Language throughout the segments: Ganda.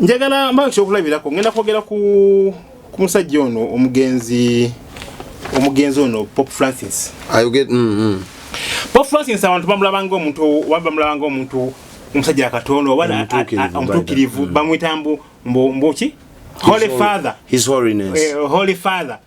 njagala mba kyokulabirako ngenda kwogera ku musajja ono omugenzi omugenzi ono pop francis mm, mm. pop francis abantu bamulabanga omuntu bamulabanga omuntu omusajja akatono oba omutuukirivu mm. bamwita mbu mbuki holy father his holiness eh, holy father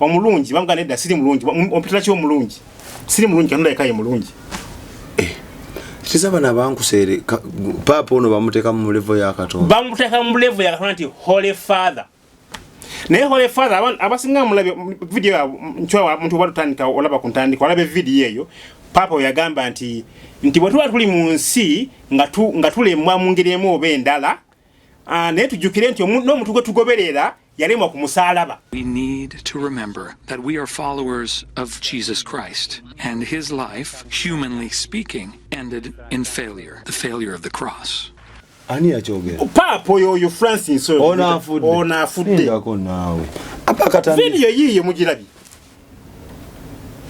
omulungi bamugana edda siri mulungi ompitula ki omulungi siri mulungi katonda yekaye mulungi eh, kiza bana bankuseere paapa ono bamuteeka mu levo ya katonda bamuteeka mu levo ya katonda nti holy father naye holy father abasinga mulabe video nkyowa muntu oba tutandika olaba ku ntandika olaba evidiyo eyo paapa oyagamba nti nti bwe tuba tuli mu nsi nga tulemwa mu ngeri emu oba endala ah, naye tujjukire nti n'omuntu gwe tugoberera yalemwa ku musaalaba we need to remember that we are followers of jesus christ and his life humanly speaking ended in failure the failure of the cross ani yakyogera paapa oyo oyo francis onaafuddeonaafuddeko naawe apakatanividiyo yiiyo mugirabye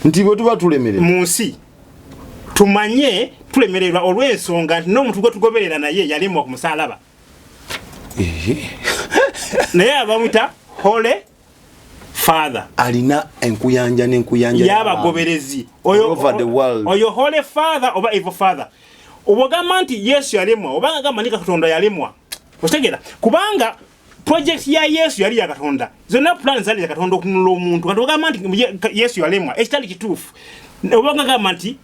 nti bwe tuba tulemerera mu nsi tumanye tulemererwa olw'ensonga nti n'omuntu gwe tugoberera naye yalemwa ku musaalaba naye abamwita hole father alina enkuyanja nenkuyanja yabagoberezi oyo hole father oba evo father obwogamba nti yesu yalemwa oba agamba ni katonda yalemwa okitegera kubanga project ya yesu yali yakatonda zonna plan zali zakatonda okunula omuntu kati ogamba nti yesu yalemwa ekitali kituufu obagagamba nti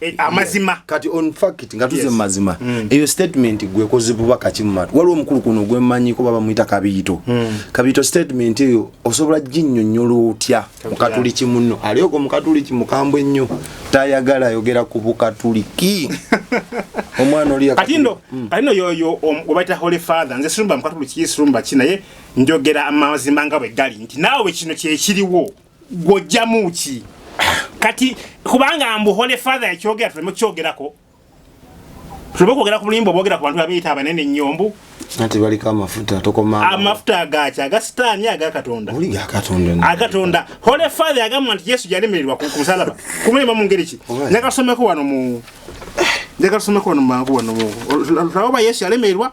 Eh, amazima kati on fact nga tuze mazima mm. eyo statement gwe kozi buba kati mu matu waliwo mukulu kuno gwe manyi ko baba muita kabiyito mm. kabiyito statement eyo osobola jinnyo nyolo otya mukatuliki munno aliyo ko mukatuliki mukambwe nnyo tayagala yogera ku bukatuliki omwana oli kati ndo mm. kati no yoyo obaita holy father nze sirumba mukatuliki sirumba kinaye njogera amazima nga bwe gali nti nawe kino kye kiriwo gwojjamu ki kati kubanga mbu holy father yakyogera tuleme kukyogerako tuleme kwogera ku bulimba obwogera ku bantu babiyita abanene nyombu nti baliko amafuta tokoma amafuta agaki aga sitaani aga katonda oli ga katonda agatonda holy father yagamba nti yesu yalemererwa ku musalaba kumulema mu ngeri ki njagasomeko wano mu njagasomeko wano mangu wano mu laba yesu yalemererwa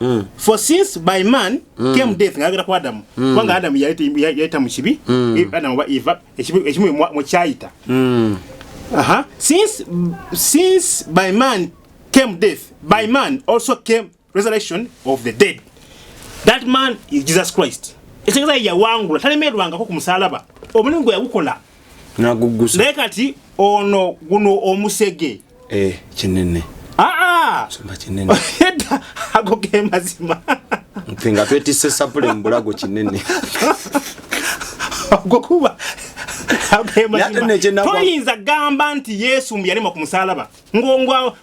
Mm. for since by man mm. came death ngayogera ku adamu mm. kubanga adamu yayita mu kibi mm. E, adamu oba eva ekimu mukyayita mm. uh -huh. since, since by man came death by man also came resurrection of the dead that man is jesus christ ekitegeza yawangula talemerwangako ku musalaba omulimu gwe yagukola naye kati ono guno omusege eh kinene aa sumba kinene heta ako ke mazima ntinga twetise sapule mbulago kinene gwe kuba toyinza gamba nti yesu mbuyalema ku musalaba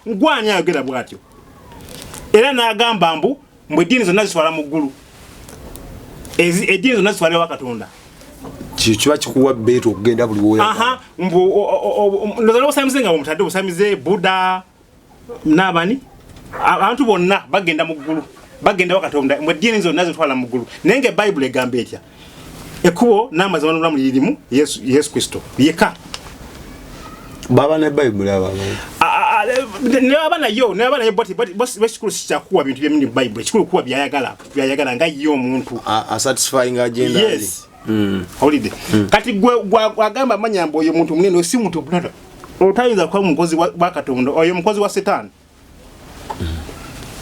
ngwani ayogera bwatyo era nagamba mbu mbu eddiini zonna zitwala mu ggulu eddiini zonna zitwala ewa katonda kyo kiba kikuwa beeta okugenda buli woyaolozala obusamize nga omutadde obusamize buda naabani abantu bonna bagenda mu ggulu bagenda wa katonda mwe eddiini zonna zitwala mu ggulu naye nga ebayibuli egamba etya ekubo n'amazima n'obulamu lirimu yesu, yesu kristo yeka baba ne bayibuli abanaabana yo naabana yo bwekikulu sikyakuwa bintu byemini bayibuli kikulu kuwa byayagala byayagala nga ye omuntu asatisfyinga agenda yes mm. holiday mm. kati gwagamba manya mbu oyo muntu munene osi muntu omulala otayinza kuba mukozi wa katonda oyo mukozi wa setaani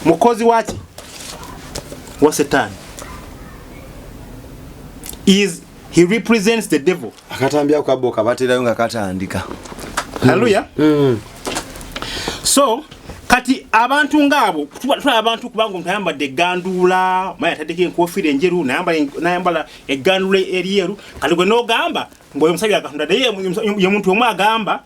mukozi waki wa setani is he represents the devil akatambi ako kabbo kabaterayo nga katandika haleluya mm. mm. so kati abantu ngaabo tulaba abantu kubanga omuntu ayambadde eganduula maye ataddeko enkofiira enjeru nayambala eganduula eryeru kati gwe nogamba ngaoyo omusajja katonda naye ye muntu omu agamba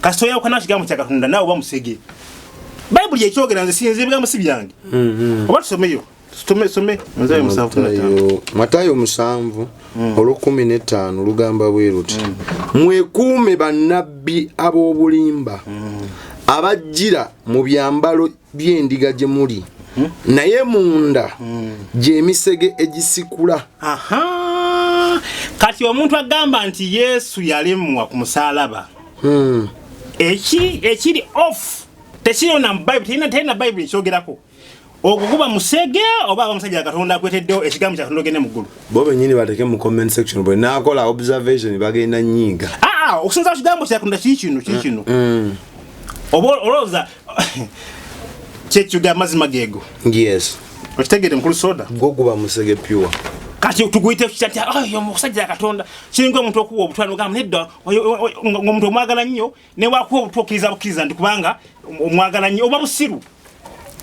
kasita oyawukana wa kigambo kya katonda naawe oba musege bayibuli ekyogera nze sinze ebigambo si byange mm-hmm. oba tusomeyo matayo musanvu mm. olwokumi netaano lugamba bwe luti mm. mwekuume bannabbi ab'obulimba mm. abajjira mu byambalo byendiga gye muli hmm? naye munda hmm. gyemisege egisikula kati omuntu agamba nti yesu yalemwa ku musalaba hmm. ekiri off tekirina bayibuli terina bayibuli ekyogerako ogwo guba musege oba abamusajja katonda akweteddewo ekigambo kyatonda ogende mu ggulu bo benyini bateke mu comment section bwe nakola observation bagenda nyiiga aa ah, ah, okusinza ku kigambo kyatonda kikino kikino mm, mm. oba olowooza kyekyuga amazima gego yes okitegere mukulu soda gwo guba musege pure kati tuguyite kitati ah, oyo musajja katonda kiringa omuntu okuwa obutwa nogamba nedda omuntu omwagala nnyo newakuwa obutwa okkiriza bukkiriza nti kubanga omwagala nnyo oba busiru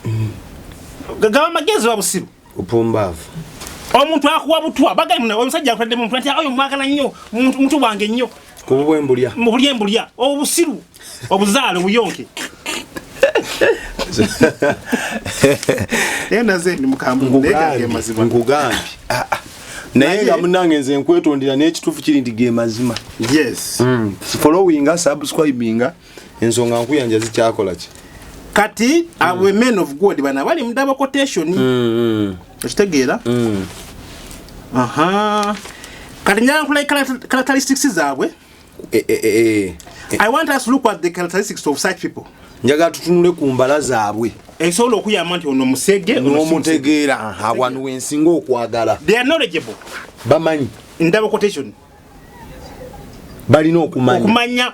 mm. gaba amagezi oba busiru upumbavu omuntu akuwa butwa bagamba nawe omusajja akutadde muntu nti oyo mwagala nnyo muntu wange nnyo kububwe mbulya mubulye mbulya obusiru obuzaale obuyonke nkugambye ah, ah. naye nga munange nze nkwetondera n'ekituufu kiri nti ge mazima yes mm. followinga subscribinga ensonga nkuyanja zikyakola ki kati abo mm. men of god bana bali mudaba quotation mm, mm. okitegeera mm. aha kati njala nkulayi characteristics zaabwe eh, eh, eh, i want us look at the characteristics of such people njagala tutunule ku mbala zaabwe esobola okuyamba nti ono musege nomutegeera awanu wensinga okwagala they are knowledgeable bamanyi ndaba quotation balina okumanya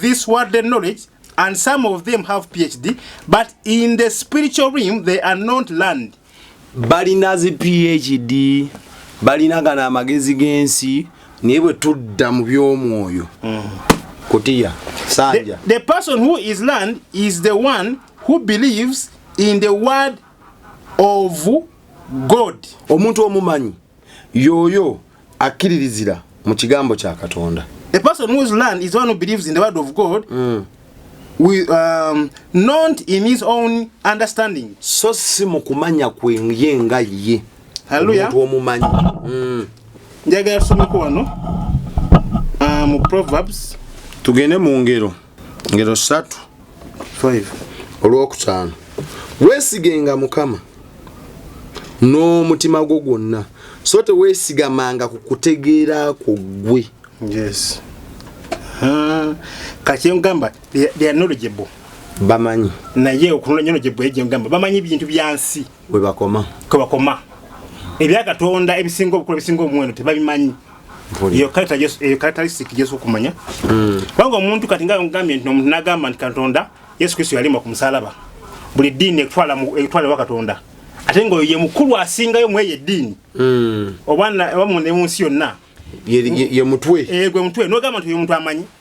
this worldly knowledge and some of them have phd but in the spiritual realm they are not learned balina zi phd balina gana amagezi g'ensi naye bwe tudda mu by'omwoyo mm. kutiya sanja the, the person who is learned is the one who believes in the word of god omuntu omumanyi yoyo akiririzira mu kigambo kya katonda a person whose land is one who believes in the word of god mm. with, um, not in his own understanding so si mu kumanya kwenye nga ye omuntu omumanyi mm. njagala tusomeko wano uh, mu proverbs tugende mu ngero ngero satu olwokutaano weesigenga mukama n'omutima gwo gwonna so teweesigamanga ku kutegeera kwo ggwe yes. uh, kati engamba they are knowledgeable bamanyi naye okunona nyono gyebwegyengamba bamanyi ebintu byansi webakoma kwebakoma ebyakatonda ebisinga obukulu ebisinga omuwendo tebabimanyi eyo characteristic jesu okumanya hmm. kubanga omuntu kati nga ngambye nti omuntu nagamba nti katonda yesu kristo yalimba ku musalaba buli ddiini ekutwalewa katonda ate nga oyo ye mukulu asingayo mweyo eddiini hmm. oba mu nsi yonna ye mutwe eh, gwe mutwe nogamba nti oyo omuntu amanyi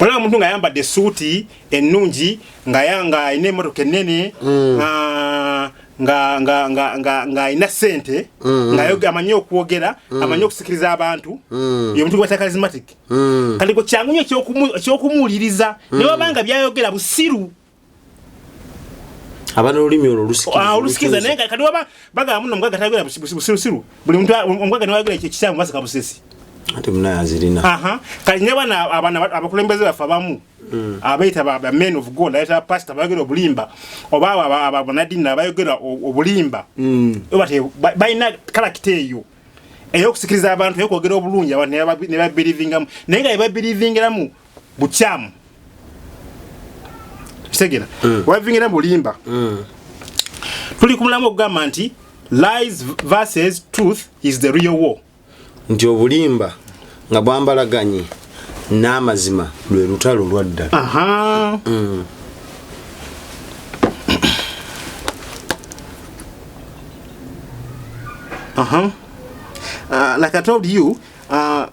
olaba omuntu nga ayambadde esuuti ennungi nga yanga alina emotoka ennene mm. ah, ng'alina ssente mm. nga amanyi okwogera mm. amanyi okusikiriza abantu ye muntu gwata karismatic kati kwe kyangu nyo ekyokumuwuliriza ne wabanga byayogera busiru abana olulimi olwo olusikiriza ah, naye nga kati waba bagamba muno omugaga tayogera busirusiru buli muntu omugaga niwe ayogera ekikyamu basika busesi ate munaye azirina kati ne bana abana abakulembeze baffe abamu mm. abayita ba men of god ayita pasita bayogera obulimba oba abanadini abayogera obulimba mm. balina kalakita eyo eyokusikiriza abantu eyokwogera obulungi abantu nebabirivingamu naye nga ebabirivingiramu bukyamu kitegera mm. wavingira bulimba mm. tuli ku mulamu okugamba nti lies versus truth is the real war nti obulimba nga bwambalaganye n'amazima lwe lutalo lwaddala mm. Uh-huh. Uh, like I told you, uh,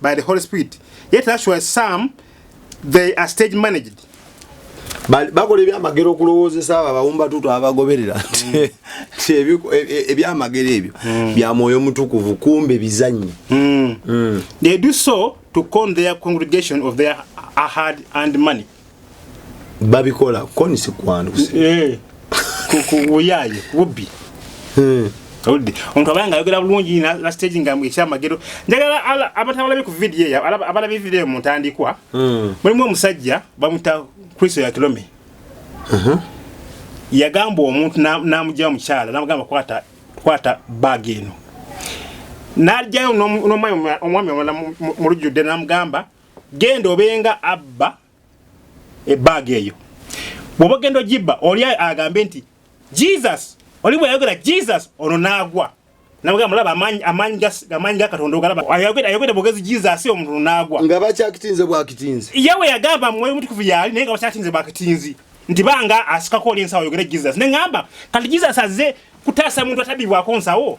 by the Holy Spirit. Yet actually some they are stage managed. bakola ebyamagero okulowoozesa abo abawumba tuto abagoberera mm. e, e, ebyamagero ebyo mm. bya mwoyo mutukuvu kumbe bizanyi mm. they do so to con their congregation of their hard and money babikola koni sikwanduse eh, kuyaye bubbi eh. oludde omuntu abaya nga ayogera bulungi nastage nga ekyamagero njagala abatabalabi ku vidiyo eyo abalabi vidiyo mu ntandikwa hmm. mulimu omusajja bamuta kristo ya kilome uh-huh. yagamba omuntu namugyawo mukyala namugamba kwata kwata bag eno najjayo nomwami omwami omulala mu lujjudde namugamba genda obenga abba ebbaga eyo bwoba ogenda ogibba oli agambe nti jesus oli bweyayogera jesus ono naagwa nabwamulaba amaanyi ga katonda ogalaaayogera bwogezi jesus omuntu naagwa nga bakyakitinze bwakitinzi yawe yagamba mwoyo mutukuvu yaali naye nga bakyakitinze bwakitinzi nti banga asikako oli ensawo oyogere jesus ne ŋamba kati jesus azze kutaasa muntu atabibwako nsawo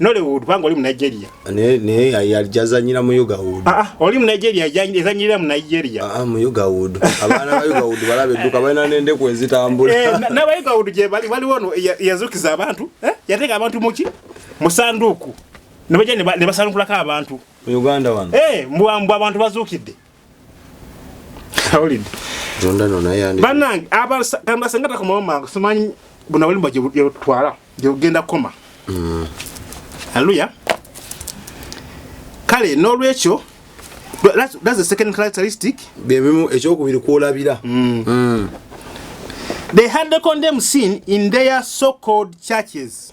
Nollywood kubanga oli mu Nigeria. Ne ne yalijazanyira mu Ugawood. Ah, ah oli mu Nigeria ezanyira mu Nigeria. Ah, ah mu Ugawood. Abana ba Ugawood balabe duka bana nende ku ezitambula. Eh na ba Ugawood je bali bali wono yazukiza abantu eh yateka abantu muki musanduku. Nabaje ne basanukula ka abantu. Mu Uganda wano. Eh mbwa mbwa abantu bazukidde. banange abasengataka kumawo mangu simanyi buna bulimba gyebutwala gyebugenda kukoma mm. aleluya kale n'olwekyo that's the second characteristic byebimu ekyokubiri kwolabira mm. mm. they had the condemn sin in their so called churches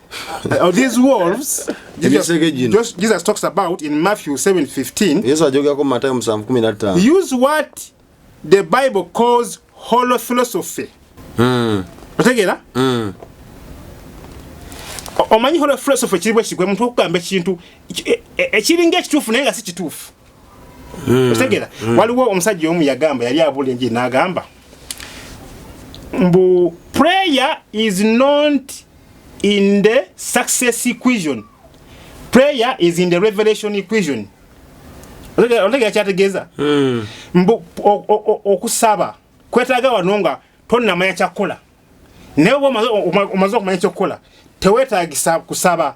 Uh, these wolves Jesus, Jesus, Jesus talks about in Matthew 7:15. Yesu ajogera ko Mathayo 7:15. Use what the Bible calls hollow philosophy. Mm. Otegera? Mm. Omanyi hollow philosophy kiri bwe kigwe muntu okugamba ekintu ekiringa e, e, ekituufu naye nga si kituufu. Mm. Otegera? Mm. Waliwo omusajja omu yagamba yali abula enjiri n'agamba mbu prayer is not in the success equation prayer is in the revelation equation otegera kyategeeza hmm. mbu okusaba kwetaaga wano nga tonnamanya kyakukola naye oba omaze okumanya ekyokukola tewetagisa kusaba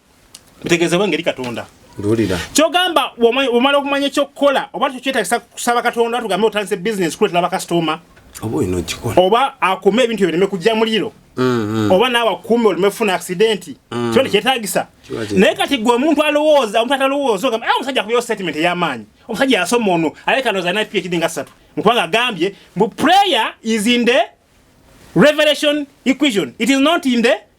Ntegezeewo engeri Katonda Ndulira. Kyogamba omala okumanya ekyokukola oba tukyetagisa kusaba Katonda tugambe otandise bizinesi kuleetera bakasitooma oba olina okikola oba akume ebintu ebireme kujja muliro mm-hmm. oba naawe akume oleme funa akisidenti mm. kiba tekyetagisa naye kati gwe omuntu alowooza omuntu atalowooza ogamba ah, omusajja akubayo statement ey'amaanyi omusajja yasoma ono aleka noza na phd nga ssatu mukubanga agambye mbu prayer is in the revelation equation it is not in the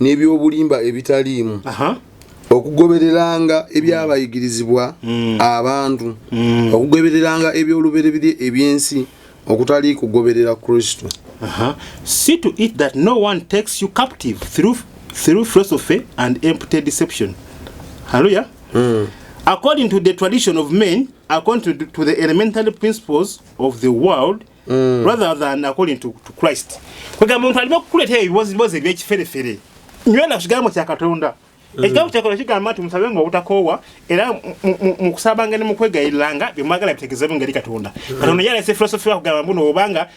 n'eby'obulimba ebitaliimu okugobereranga ebyabayigirizibwa mm. abantu mm. okugobereranga eby'olubereberye eby'ensi okutali kugoberera kristo see to it that no one takes you captive through, through philosophy and empty deception halleluya mm. according to the tradition of men according to the elementary principles of the world mm. rather than according to, to christ kwegamba omuntu alina okukuleeta ebibozibozi ebyekiferefere nywena ku kigambo kya katonda mm. ekigambo kyakola kigamba nti musabe nga obutakoowa era mukusabanga nemukwegayiriranga byemwagala bitegezebu ngeri katonda mm. katonda yalese filosofi wakugamba mbuno obanga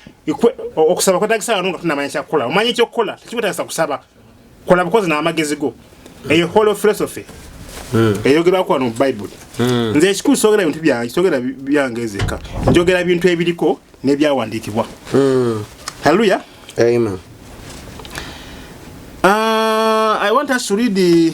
okusaba kwetagisa wano nga tunamanya kyakukola omanya ekyokukola tekikwetagisa kusaba kola bukozi n'amagezi go eyo holo philosophy hmm. eyogerwako wano mu bayibuli hmm. nze ekikulu sogera bintu byange sogera byange ezeka njogera bintu ebiriko n'ebyawandiikibwa hmm. halleluya ah, i want us to read the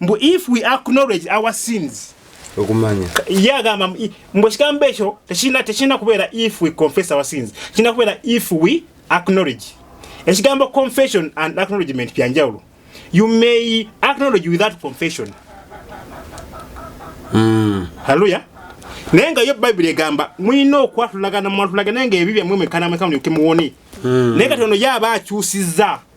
mbu if we acknowledge our sins okumanya ye agamba mbu ekigambo ekyo tekirina tekirina kubeera if we confess our sins kirina kubeera if we acknowledge ekigambo confession and acknowledgement byanjawulo you may acknowledge without confession mm. haleluya naye nga yo bayibuli egamba mulina okwatulagana mwatulagana nga ebi byammwe mwekanamweka mulyoke muwone mm. naye kati ono ye aba akyusizza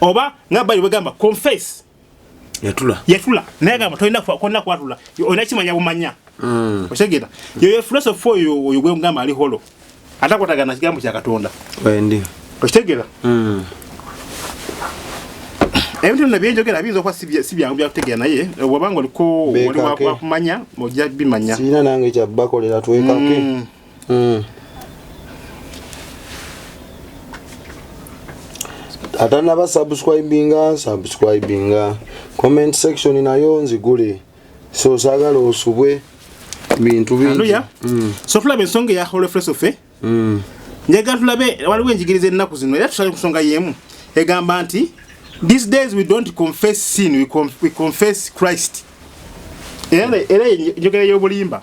oba nga bali bagamba confess yatula yatula naye gamba tolina konna kwatula olina kimanya bumanya mm. okitegera yoyo filosofi oyo oyo gwegamba ali holo atakwatagana kigambo kya katonda wendi okitegera mm. ebintu bino byenjogera biyinza okuba si byangu byakutegera naye wabanga oliko waliwakumanya ojja bimanya sirina nange kyabakolera twekake mm. mm. atanaba subscribinga subscribinga comment section nayo nzigule so sagala osubwe bintu bingi mm. so tulaba ensonga eya holofresofe mm. njagala tulabe waliwo enjigiriza ennaku zino era tusale kusonga yemu egamba nti these days we don't confess sin we, conf we confess christ era era njogera y'obulimba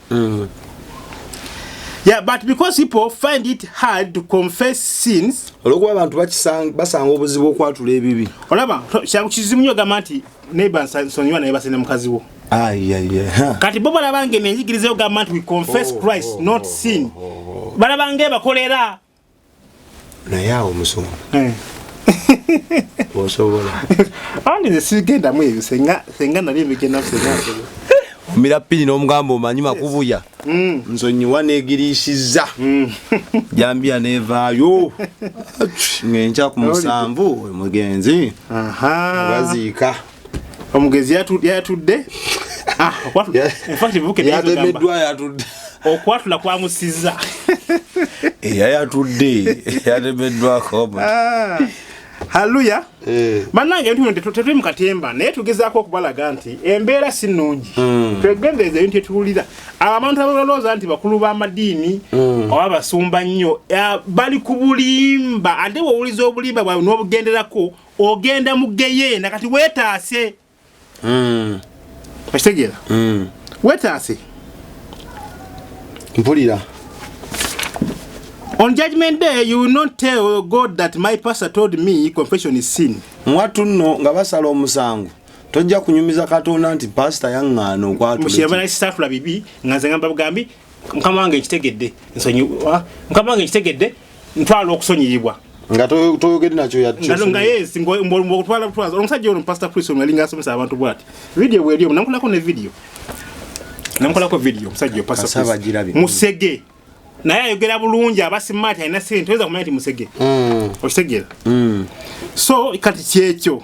Mm. Yeah, but because people find it hard to confess sins. Olwokuba abantu bakisanga basanga obuzibu okwatula ebibi. Olaba, kyangu kizimu nyo gamba nti neighbor nsonyiwa naye basene mukazi wo. Ah, yeah, yeah. Kati bo balaba nge nenjigiriza yo gamba nti we confess oh, Christ, oh, not oh, sin. Oh, oh, oh. Balaba nge bakolera naye awo musumba eh. osobola andi nesigendamu ebyo senga nali ebigendamu omira pini n'omugamba omanyi makubuya mm. nsonyiwa negirisiza mm. jambiya nevaayo ngenkya ku musanvu omugenzi baziika omugezi yatudde ah, yatemeddwa yatudde okwatula kwamusiza eya yatudde yatemeddwako ah. halleluya eh. bannange ebintu bino tetuli mu katemba naye tugezaako okubalaga nti embeera si nnungi hmm. twegendereza ebintu etuwulira abantu abalowooza nti bakulu b'amadiini hmm. oba basumba nnyo bali ku bulimba ate wowuliza obulimba bwawe n'obugenderako ogenda mu geyeena kati wetaase hmm. okitegeera hmm. wetaase mpulira on judgment day you will not tell god that my pastor told me confession is sin mwattu nno nga basala omusango tojja kunyumiza katonda nti pasita yaŋŋaana okwatulakisaatula bibi nga nze ngamba bugambi mukama wange nkitegedde nsonyiwa mukama wange nkitegedde ntwala okusonyiyibwa nga toyogede nakyo yanga yes mbokutwala butwaza omusajja ono pastor chris ono yalinga asomesa abantu bwati video bweliyo namukolako ne video namukolako video omusajja musege naye ayogera bulungi abasimaati alina sente oyinza kumanya nti musege mm. okitegeera mm. so kati kyekyo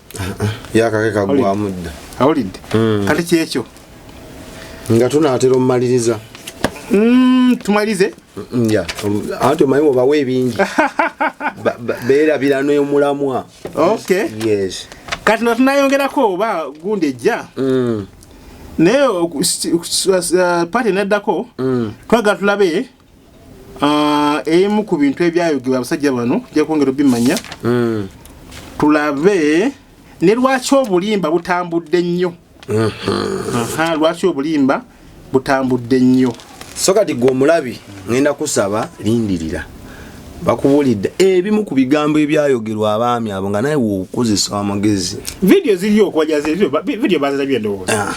yakake kagwamu dda awulidde hmm. kati kyekyo nga tunaatera omumaliriza hmm, tumalirize hmm, anti omanyi obawa ebingi beerabira nomulamwa kati natunayongerako oba gundi ejja naye uh, pati neddako twagala tulabe Ah, ebimu ku bintu ebyayogerwa abasajja bano jakwongera obimanya hmm. tulabe ne lwaki obulimba butambudde nnyo hmm. lwaki obulimba butambudde nnyo so kati gwe omulabi ngenda kusaba lindirira bakubuulidde ebimu ku bigambo ebyayogerwa abaami abo nga naye wokozesa amagezi vidiyo ziriyo okubajaza vidiyo bazirabye ndowooza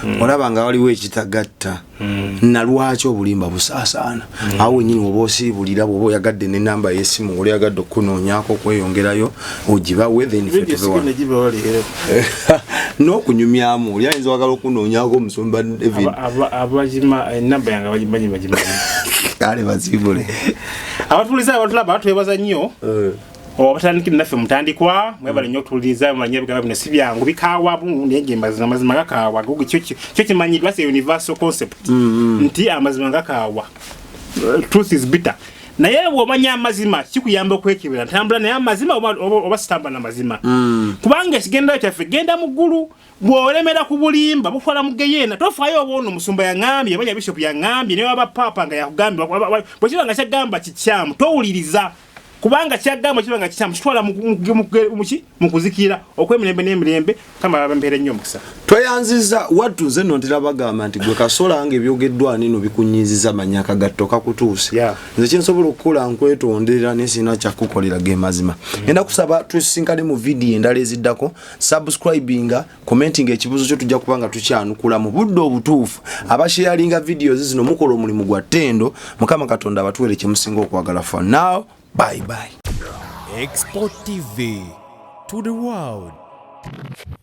hmm. olaba nga waliwo ekitagatta Mm. nalwaki obulimba busaasaana mm. awo wenyini woba osiibulira bwoba oyagadde nenamba yesimu oli yagadde okukunoonyako okweyongerayo ogibawe n'okunyumyamu oli ayinza wagala okunoonyako omusumba kale baziibule abatuliza abatulaba twebaza nnyo eh. obatandikire naffe mutandikwa mwebale nyo okutuuliriza mumanye ebigambo bino si byangu bikaawamu naye gemazima amazima gakaawa kyo kimanyidwa se universal concept mm-hmm. nti amazima gakaawa truth is bitter naye bwomanya amazima kikuyamba okwekebera ntambula naye amazima oba sitambula namazima mm. kubanga ekigendero kyaffe genda mu ggulu bwolemera ku bulimba bukola mu geyeena tofaayo oba ono omusumba yaŋambye oba yabishopu yaŋambye naye waba paapa nga yakugambye bwekiba nga kyagamba kikyamu towuliriza kubanga kyagamba kiba nga kikyamu kitwala muki mukuzikira okwemirembe n'emirembe kama babembeere nnyo omukisa tweyanziza wattu nze no ntera bagamba nti gwe kasola nga ebyogeddwa nino bikunyiiziza manya akagatto kakutuuse yeah. nze kyensobola okukola nkwetonderera nesirina kyakukolera ge mazima mm. enda kusaba tusisinkane mu vidiyo endala eziddako subscribinga commenting ekibuzo kyo tujja kuba nga tukyanukula mu budde obutuufu abasharinga videos zino mukola omulimu gwa ttendo mukama katonda abatuwere kyemusinga okwagala for now bye bye export tv to the world